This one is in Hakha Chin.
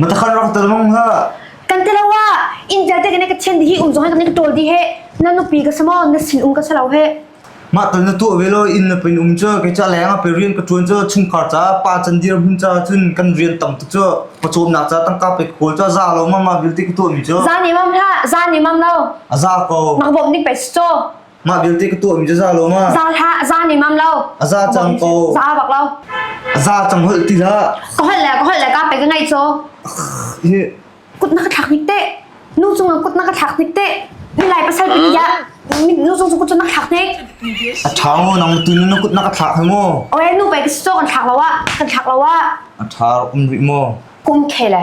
Matakhan rak tel mong ha. Kan te lawa India te kene ka chen di hi um zong he kene ka tol di he na nupi ka samo na sin um ka salo he. Ma tal na tu velo in na pin um cho ke cha leng a pe rian ka tuan cho chung khar cha pa chan dir hun cha chun kan rian tam tu cho pa chom na cha tang ka pe kol cho za lo ma ma bil ti ka tu mi cho. Za ni mam tha za ni mam lo. A za ko. Mak bob ni pe cho. Mah vialte ka tuahmi cu za lo ma? Za hlah, za ni mam lo. A za cang ko. Za bak lo. A za cang holh ti hlah. Ka holh le ka holh le ka pe ka ngai cho. Kut na ka thlak ni te. Nu cung kut na ka thlak ni te. Ni lai pasal pin ya. Nu cung cung kut na thlak ni. A thao nang tu nu kut na ka thlak hai mo. Oe nu pe ka so kan thlak lo wa. Kan thlak lo wa. A thar um ri mo. Kum khe le.